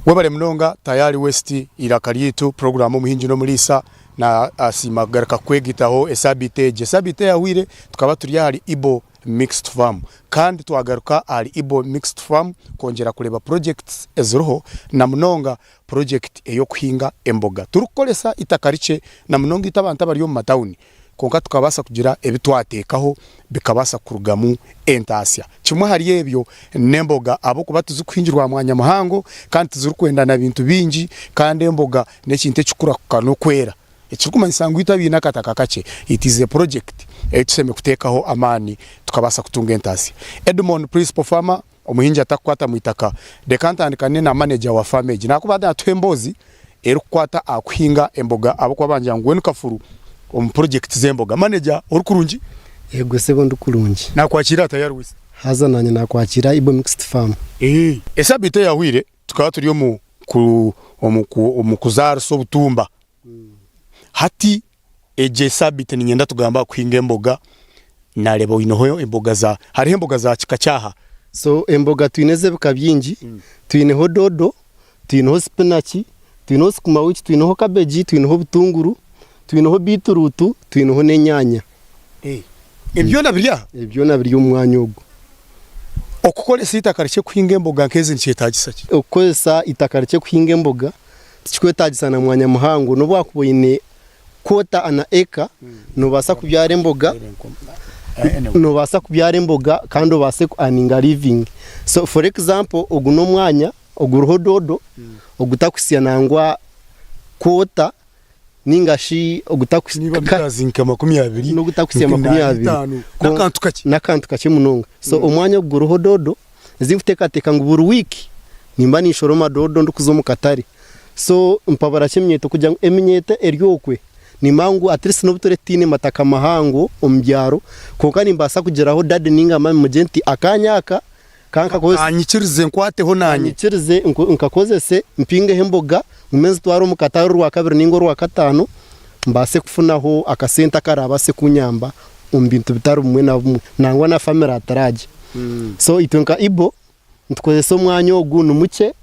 Webale munonga Tayari West eiraka ryaitu puroguramu Omuhingi n'Omuriisa nasiima kugaruka kukwegyetaho esabiiti egi. Esabiiti eyahweire tukaba turi ahari Ibo. Mixed Farm kandi twagaruka ahari Ibo Mixed Farm kwongyera kureeba projects eziriho na munonga project ey'okuhinga emboga turikukoresa eitaka rikye na munonga itwe abantu abari omu matauni kwonka tukabaasa kugira ebi twateekaho bikabaasa kurugamu entaasya. Kimwe ahari ebyo n'emboga ahabw'okuba tizirikuhingirwa aha mwanya muhango kandi tizirikwenda na bintu bingi kandi emboga n'ekintu ekikukura kuka n'okwera. Ekirikumanyisa ngu itwe abaine akataka kakye, it is a project ei tushemereire kuteekaho amaani tukabaasa kutunga entaasya. Edmond, Principal Farmer, Omuhingi atakukwata mu itaka, reka ntandikane na manager wa faamu egi nakubaade naatuha emboozi erikukwata aha kuhinga emboga ahabw'okuba bangira ngu we ni kafuru omu project z'emboga. Manager ori kurungi? Yego sebo ndi kurungi. Naakwakiire ata Yarwisa? Haza naanye naakwakiira Ibo Mixed Farm. Esabiiti eyahweire Tukaba turi omu kuzaarisa obutumba, hati egi esaabiiti niinyenda tugambe aha kuhinga emboga, naareeba oineho emboga za, hariho emboga za kika ki aha? So emboga twine ez'ebika bingi, twineho doodo, twineho sipinaki, twineho sukumawiki, twineho kabegi, twineho obutunguru, twineho biitiruutu, twineho n'enyaanya. Ebi byona biri aha? Ebi byona biri omu mwanya ogu. Okukoresa eitaka rikye kuhinga emboga nk'ezi nikyetaagisa ki? Okukoresa eitaka rikye kuhinga emboga tikikwetaagisa na mwanya muhango. N'obu waakuba oine kwota ana eka, noobaasa kubyara emboga, noobaasa kubyara emboga kandi obaase ku earninga living. So for example, ogu n'omwanya oguriho doodo ogutakuhitsya nangwa kwota ninga shi n'ogutakuhitsya makumi abiri, n'akantu kakye munonga. So omwanya ogu guriho doodo ezi ndikuteekateeka ngu buri wiiki nimba ninshoroma doodo ndikuza omu katare. So mpabura ki eminyeeto? Kugira ngu eminyeeto eri okwe nimba ngu at least n'obu turiba tutaine mataka mahango omu byaro, kwonka nimbaasa kugiraho daadi ninga maami mugire nti akaanya aka Ka nkakozese. Anyikirize nkwateho Ka naanye. nyikirize nk- nkakozese, mpingeho emboga, ngume nzitware omu katare orwakabiri nainga orwakataano, mbaase kufunaho akasente akaraabaase kunyamba omu bintu bitari bimwe na bimwe, nangwa na famire atiraagye. So itwe nka Igbo, nitukozesa omwanya ogu ni mukye,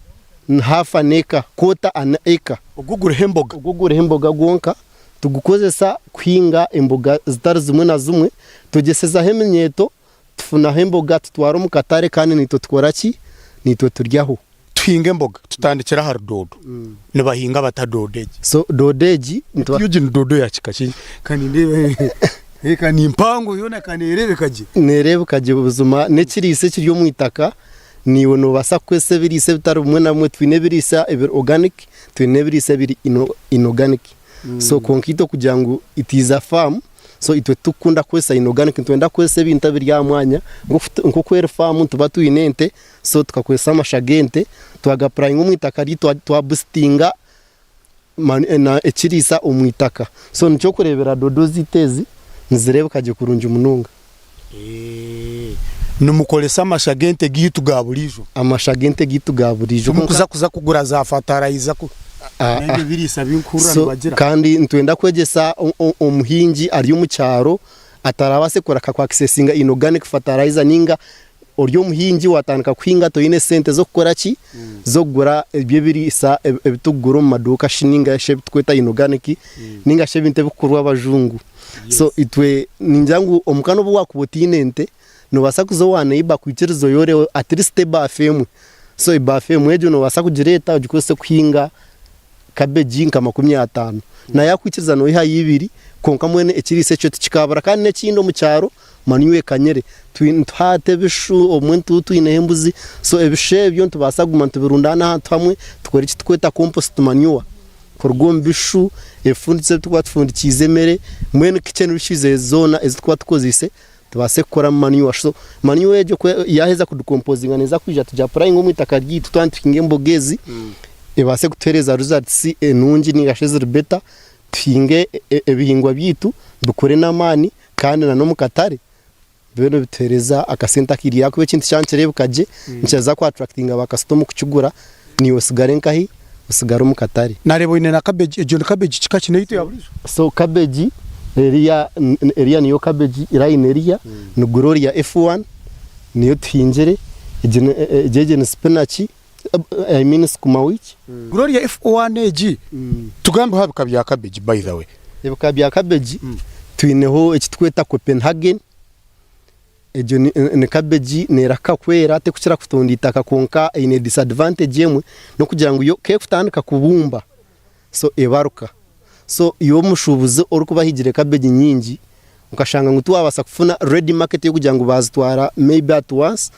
ni half an acre, quarter an acre, Ogu guriho emboga. ogu guriho emboga gwonka, tugukozesa kuhinga emboga zitari zimwe na zimwe, twegyesezaho eminyeeto, tufunaho emboga tutwara omu katare kandi naitwe tukora ki? Naitwe turyaho. Tuhinga emboga tutandikira ahari doodo. Nibahinga bata doodo egi? So doodo egi nituba. Egi ni doodo ya kika ki? Ka nindeebe. Ka ni mpango yoona ka neereebeka gye. Neereebeka gye buzima. N'ekiriisa ekiri omu itaka. Naiwe noobaasa kukoresa ebiriisa ebitari bimwe na bimwe. Twine ebiriisa ebiri organic, twine n'ebiriisa ebiri inorganic. So kwonka itwe kugira ngu it is a farm. So itwe titukunda kukoresa inorganic nitwenda kukoresa ebintu ebiri aha mwanya nk'oku eri faamu nituba twine ente so tukakoresa amasha g'ente twagapurayinga omu itaka ryaitu twabusitinga ekiriisa omu itaka so nikyo orikureebera doodo zaitu ezi nizireebeka gye kurungi munonga. Nimukoresa amasha g'ente gaitu ga buriijo? Amasha g'ente gaitu ga buriijo. Timukuza kuza kugura za fatarayiza ku n'ebyo ebiriisa ebi ndikuhurira So, nibagira? kandi nitwenda kwegyesa o- o- omuhingi ari omu kyaro atarabaase kureka ku accesinga inorganic fertilizer ninga Ori omuhingi waatandika kuhinga toine sente z'okukora ki? Z'okugura ebyo ebiriisa ebi turikugura omu maduuka shi nainga shi ebi turikweta inoganiki nainga shi ebintu ebirikukorwa abajungu. So itwe ningira ngu omuka n'obu waakuba otaine ente, noobaasa kuza owa neiba akwikirize oyoreho atirisiti ebaafu emwe. So ebaafu emwe egyo noobaasa kugireeta ogikozese kuhinga kabegi nka makumi ataano. Nawe yaakwikiriza nooihayo ibiri kwonka mbwenu ekiriisa ekyo tikikaabura. Kandi n'ekindi omu kyaro Manu ekanyire, nituha hati ebishu, obumwe nituba twineho embuzi, so ebishu ebyo nitubaasa kuguma nitubirundaana ahantu hamwe, tukore eki turikweta compost manure, kuruga omu bishu, ebifundikye ebi turikuba tufundikiize emere, mbwenu kitchen wastage zoona ezi turikuba tukozeise tubaase kukoramu manure, so manure egyo ku yaaheza ku decomposinga neeza kwija tu gi apurayinge omu itaka ryaitu twaba nituhinga emboga ezi, ebaase kutuheereza results enungi nainga shi eziri better, tuhinge ebihingwa byaitu bikure n'amaani. Kandi na n'omu katare bibe nibituhereza akasente akairya ahakuba ekintu kyaba nikirebeka gye nikiraza ku attractinga ba kasita omu kukigura niiwe osigare nkahi? Osigare omu katare. Nareeba oyine na cabbage, egyo ni cabbage kika ki? Neitu eyaburijo? So cabbage eriya eriya niyo cabbage line eriya ni gloria F1 niyo tuhingire, egyo egyo ni spinach. I mean sukuma wiki. Gloria if one egi tugambeho aha bika bya cabbage by the way. Ebika bya cabbage twineho eki tukweta Copenhagen, egyo ni cabbage nerahika kwera tekukira kutonda itaka kwonka eine disadvantage emwe nokugira ngu yo kekutandika kubumba. so ebaruka so iwe omushubuzi orikubahigire cabbage nyingi okashanga ngu tiwabasa kufuna ready market yokugira ngu bazitwara maybe at once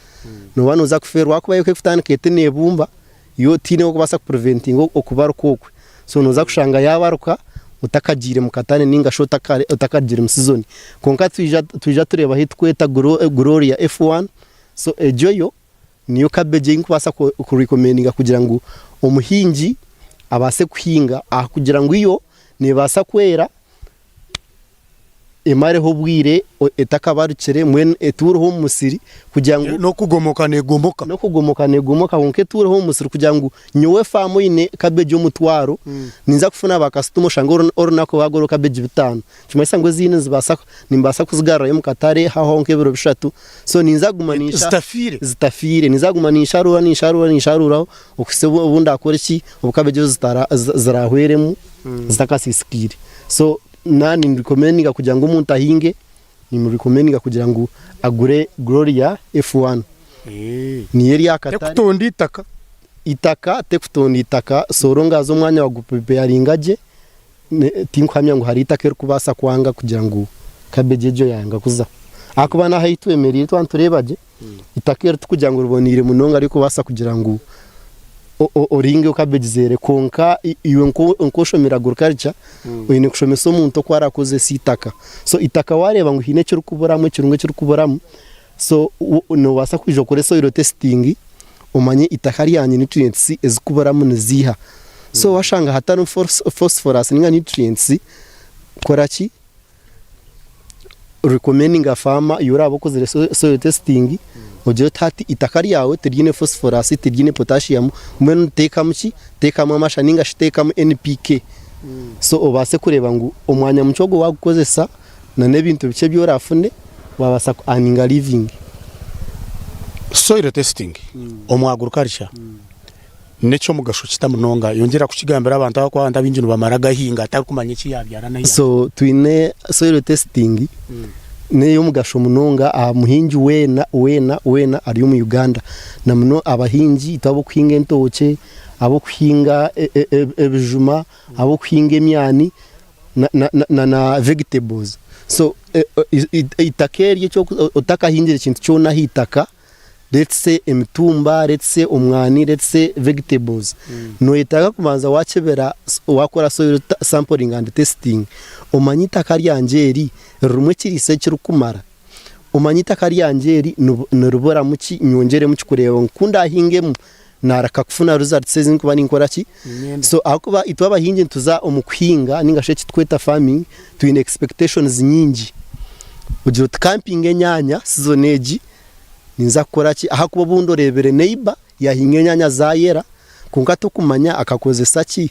noba noza kuferwa ahakuba yo kekutandika eti nebumba yo tine wokubasa ku preventinga okubaruka okwe so noza kushanga yabaruka otakagire mukatare ninga shi otakarugire mu season kwonka twija tureba ahu tukweta gloria F1 so egyo yo. niyo kabegi ei ndikubaasa kurekomendinga kugira ngu omuhingi abaase kuhinga ahakugira ngu yo neebaasa kwera emareho obwire etakabarukire mbwenu etuureho omu musiri kugira ngu n'okugomoka neegomoka n'okugomoka neegomoka kwonka etuureho omu musiri kugira ngu nyowe faamu eine kabegi omutwaro ninza kufuna baakasitoma oshange orunaku rwaagwo hariho kabegi bitaano Nikimanyisa ngu ezindi nizibaasa, nimbaasa kuzigarurayo omu katare haahwaho nk'ebiro bishatu, so ninza kuguma ninsha, zitafiire, zitafiire, ninza kuguma ninsharuura, ninsharuura, ninsharuuraho okuhitsya obu, obu ndaakore ki, obu kabeegi ezo zitara, zi, ziraahweremu zitakasiisikaire. So na, nimurecommendinga kugira ngu omuntu ahinge, nimurecommendinga kugira ngu agure Gloria F1. Niyo eri aha katare. Tekutonda eitaka. Eitaka, tekutonda eitaka, soora ongaze omwanya waagupripeyaringa gye. Tinkuhamya ngu hariho itaka erikubaasa kwanga kugira ngu kabegi egyo yaayanga kuza. Ahakuba n'aha ei twemereire twaba nitureeba gye, itaka eri tikugira ngu riboneire munonga ririkubaasa kugira ngu oringe kabegi zeere. Kwonka iwe nku oshomire agriculture, oine kushomesa omuntu oku arakozese itaka. So itaka waareeba ngu haine ekirikuburamu, ekirungo ekirikuburamu, So nobaasa kwija okore soil testing omanye itaka ryange nutrients ezikuburamu niziiha. So washanga hatarimu phosphorous ninga nutrients kora ki? Recommendinga farmer you oraabe okozire soil testing ogire oti hati itaka ryawe tiryine phosphorous tiryine potassium mbwenu teekamu ki? Teekamu amasha ninga shi teekamu NPK so obaase kureeba ngu omwanya mukye ogu wagukozesa na n'ebintu bikye ebi orafune wabaasa ku earninga living. Soil testing omu agriculture nekyomugasho kita munonga? Yongyera kukigambira abantu ahabwokuba abantu abaingi nibamara gahinga tarikumanya eki yabyara na yahinga. So twine soil testing neyomugasho munonga aha muhingi weena weena weena ari omu Uganda na muno abahingi itwe abokuhinga entookye, abokuhinga ebijuma, abokuhinga emyani. na vegetables so eitaka eryo otakahingire kintu kyona aheitaka let's say emitumba, let's say omwani, let's say vegetables noyetaaga kubanza wakebera wakora soil sampling and testing omanye eitaka ryangye eri ririmu ekiriisa ekirikumara, omanye eitaka ryangye eri niriburamu ki nyongyeremu ki kureeba ngu kundahingemu Naareka kufuna results ezi ndikuba ninkora ki? So ahakuba itwe abahingi nituza omu kuhinga ninga shi ekitukweta farming twine expectations nyingi. Ogira oti ka mpinge enyaanya season egi ninza kukora ki? Ahakuba obu ndoreebire neighbour yaahinga enyaanya zaayera, kwonka tokumanya akakozesa ki?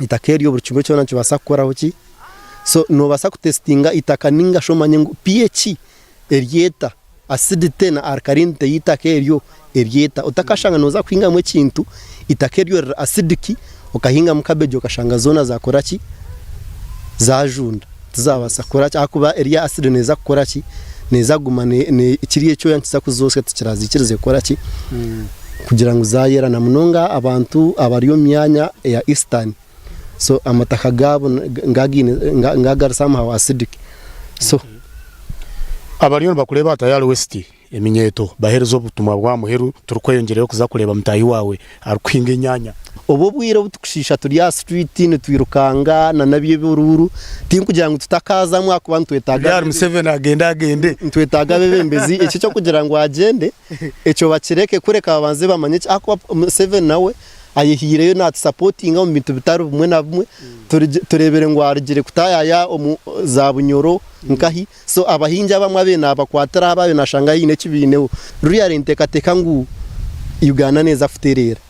itaka eryo buri kimwe kyona nikibaasa kukoraho ki, so noobaasa kutesitinga itaka nainga shi omanye ngu pH eri eta, acidity na alkalinity y'eitaka eryo eri eta, otakashanga nooza kuhingamu ekintu eitaka eryo riri acidic okahingamu kabegi okashanga zoona zaakora ki, zaajunda. Tizaabaasa kukora ki? Ahakuba eri asidi neeza kukora ki? Neeza kuguma kiri ekyoya nikiza kuzotsya tikiraziikirize kukora ki? Kugira ngu zaayera. Na munonga abantu abari omu myanya eya isitaani, so amataka gaabo niga agaari somehow acidic. So. Abariyo nibakureeba hatahi ahari wesiti. Eminyeeto, Baheereza obutumwa bw'aha muheru turikweyongyereyo kuza kureeba mutaahi waawe arikuhinga enyaanya. Obwo obwire obu turikushiisha turi aha situriiti nitwirukanga nana eby'oburuuru, tirikugira ngu tutakaazamu ahakuba nitwetaaga abeebembezi, ekyo eky'okugira ngu agyende ekyo bakireke kureka babanze bamanye ki ahakuba Museveni nawe ayehaireyo naatusapotinga omu bintu bitari bimwe na bimwe, tureebire ngu arugire kutaayaaya omu zaabunyoro nkahi. So abahingi abamwe abe nabakwatiraho ababe nashanga haine ekibaineho, ruri ari entekateka ngu Uganda neza kutereera.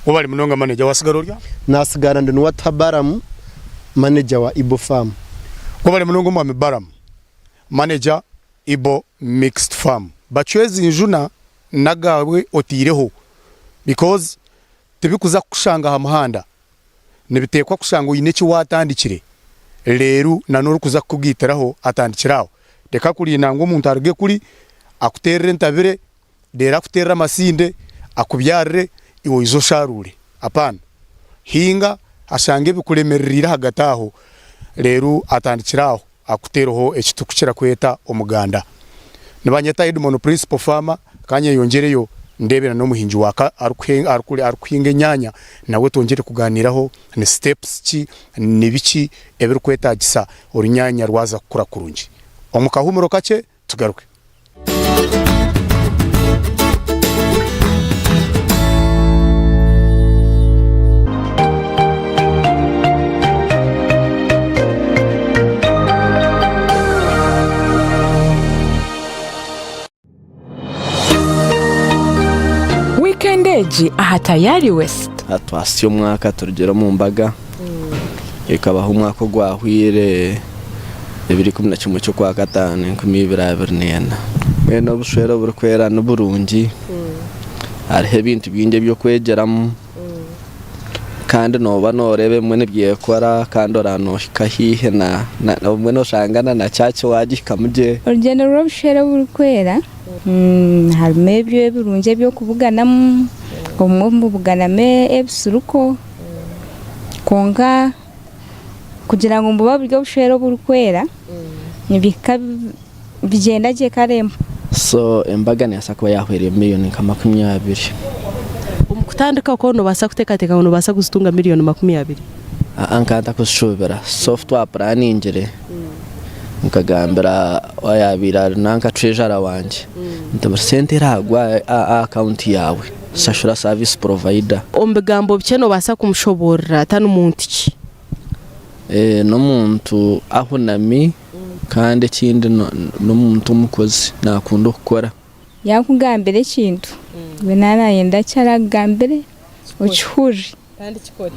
Webale munonga manager, wasigara ori aha? Nasigara ndi Nuwatuha Balaam, manager wa Ibo Farm. Webale munonga omwami Balaam, manager Ibo mixed farm. Bacwezi njuna nagawe otireho because tibikuza kukushanga aha muhanda. nibiteekwa kushanga oine eki waatandikire reeru na n'orikuza kukugaitiraho atandikire aho. Reka kurinda ngu omuntu aruge kuri akuteerere entabire reeru akuteerere amasinde akubyarire iwe oije osharuure. Apaana. Hinga ashange bikuremereriire ahagati aho reeru atandikire aho. akutereho eki turikukira kweta omuganda. Nibanyeta Edmon Principal Farmer, ka nyeyongyereyo ndeebe n'omuhingi wa ka arikuhinga enyaanya nawe twongyere kugaaniiraho ni steps ki, ni biki ebirikwetaagisa orunyaanya rwaza kukura kurungi. Omu kahumuro kakye tugaruke. Wiikendi egi aha Tayari West. Twasya omwaka turugire omu mbaga. Ekabaho omwaka ogwahweire ebiri ikumi na kimwe ky'okwa kataano enkumi ibiri abiri neena. Mbwenu obushwere oburikwera ni burungi, hariho ebintu bingi eby'okwegyeramu kandi nooba nooreeba ebimwe nibyekora kandi oraba noohika haihi na, obumwe nooshanga na na church waagihikamu gye. Orugyendo rw'obushwere oburikwera harimu ebyo ebirungi eby'okubuganamu, obumwe mubuganamu ebisiruko. Kwonka kugira ngu bube buri obushwere oburikwera nibihika bigyenda gye kare emwe. So embaga nebaasa kuba yahweera million nka makumi abiri. Omu kutandika okwo nobaasa kuteekateeka ngu nobaasa kuzitunga million makumi abiri? Aa nkaba ntakuzishuubira so obu twapuraaningire nkagambira oyaabaire ari nanka tureejara wangye nti buri sente eragwe aha account yaawe, Shashura service provider. Omu bigambo bikye noobaasa kumushoboorora ta ni muntu ki? N'omuntu ahunami kandi ekindi n'omuntu omukozi naakunda okukora. Yaakugambira ekintu iwe nawe naayenda eki araakugambire okihurire kandi kikore.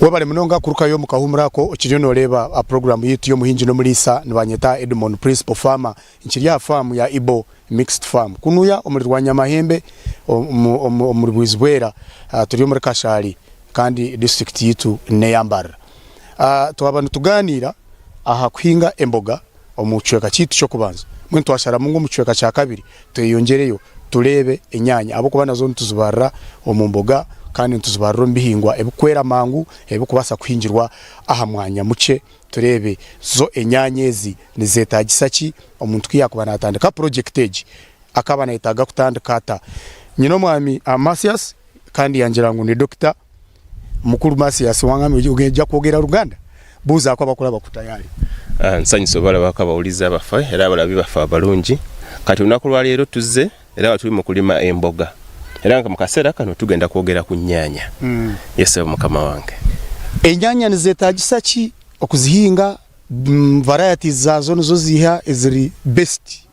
Webale munonga kurukayo omu kahumuro ako okiriyo noreeba aha puroguramu yaitu y'omuhingi n'omuriisa nibanyeta Edmon Principal Farmer nkiri aha faamu ya Ibo Mixed Farm kunuya omuri Rwanyamahembe omuri Bwizi Bwera ah, turi omuri Kashari kandi disiturikiti yaitu neya Mbarara. Ah, twaba nitugaaniira aha kuhinga emboga. omu kicweka kyaitu ky'okubanza, mbwenu twasharamu ngu omu kicweka kya kabiri tweyongyereyo tureebe enyaanya ahabw'okuba nazo nituzibaarira omu mboga kandi nituzibaarira omu bihingwa ebirikwera mangu ebirikubaasa kuhingirwa aha mwanya mukye, tureebe zo enyaanya ezi nizeetaagisa ki omuntu ku yaakuba naatandika purojekiti egi, akaba naayetaaga kutandika ata? Nyinomwami Amasiasi kandi yangira ngu ni dokita. Mukuru Masias wangambira oti ogeija kwogera Ruganda? Buuza aku abakuraba kutayaari. Nsanyuse obaraba aku abahuriza bafa era abarabi bafa abarungi. Kati orunaku rwa reero tuze era abari turi mukurima emboga era nka mukaseera kanu tugenda kwogera ku nyaanya. Yesebo mukama wange. Enyaanya nizetagisa ki okuzihinga? Varieties zaazo nizo ziiha eziri best?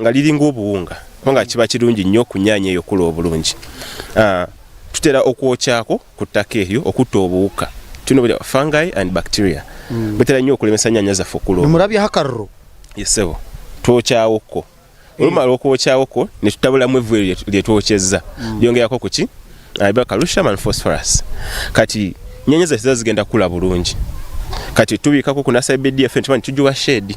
Nga riri ng'obuhunga, kwonka kiba kirungi nyo ku nyaanya eyo kukura oburungi. Tutera okwokya kwo ku taka eryo okuta obuhuka, twine obu rya fungi and bacteria butera nyo kuremesa nyaanya zafe kukura oburungi. Nimurabyaho akariro? Yes sebo, twokya kwo kwo. Orumara okwokya kwo kwo, nitutaburamu evu eryo rye twokyeza, ryongera kwo kuki biba calcium and phosphorus. Kati nyaanya zafe ziba zigenda kukura burungi. Kati tubika kwo ku na side efe nituba nitugiwa shade.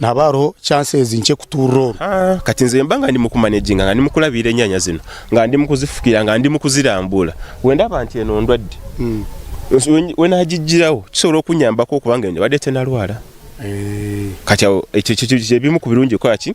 Nihaba hariho chances nkye kutuurira oru? Haa kati nze mba nga ndi mukumanaginga nga ndi mukurabiira enyanya zinu nga ndi mukuzifukirira nga ndi mukuzirambuura wenda haba nti eno ndwadde wenagigiraho kisobora okunyambaho okuba ngu eno ebadde tenarwara kati aho ekyo kiri omu kubirungi kukoraki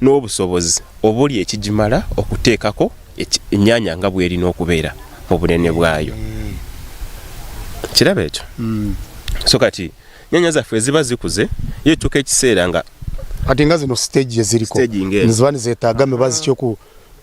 n'obusobozi oburi ekigimara okuteekako emyanya nga bweri n'okubeera mubunene bwayo. Nikiraba ekyo? So kati emyanya zaffe eziba zikuze yatuuka ekiseera nga. Kati nga zino stage eziriho niziba nizetaaga emibazi ki oku.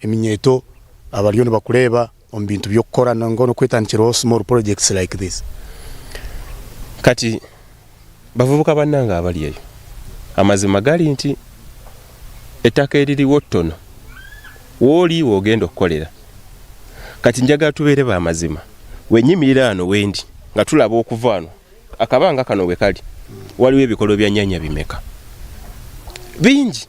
Eminyeeto abariyo nibakureeba omu bintu by'okukora ninga n'okwetandikiraho small projects like this. Kati bavubuka bannange abari eyo, amazima gari nti etaka eri ririwo ttono w'ori w'ogenda okukorera. Kati njagala tubeere ba mazima. Wenyimirira hanu wendi nga turaba okuva hanu, akabanga kano we kari, wariwo ebikorwa bya nyanya bimeka? Bingi!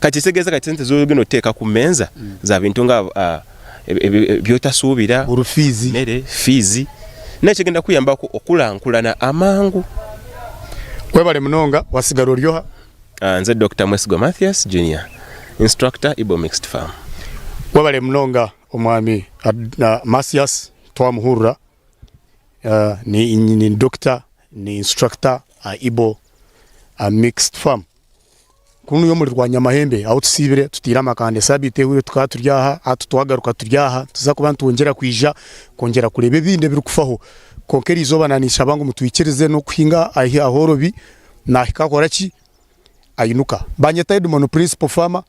Kakiza egeeza kati sente zooba oine kuteeka ku meeza za bintu nga by'otasuubira, emere, fiizi, nawe kigenda kukuyamba kukurankurana amangu. Webale munonga, wasigara ori oha? Nze Dokita Mwesigwa Mathias Junior, Instructor, Ibo Mixed Farm. Webale munonga Omwami Mathias twamuhurira, ni Dokita, ni Instructor aha Ibo Mixed Farm. kunu omuri Rwanyamahembe ahu tusiibire tutaire amakanda esabiiti ehwire tukaba turi aha hati twagaruka turi aha tuza kuba nitwongyera kwija kwongyera kureeba ebindi ebiri kufaho kwonka eri izooba naninshaba ngu mutwikirize n'okuhinga ahi ahorobi nahika akora ki? Ainuka. Banyeta Edmon Principal Farmer.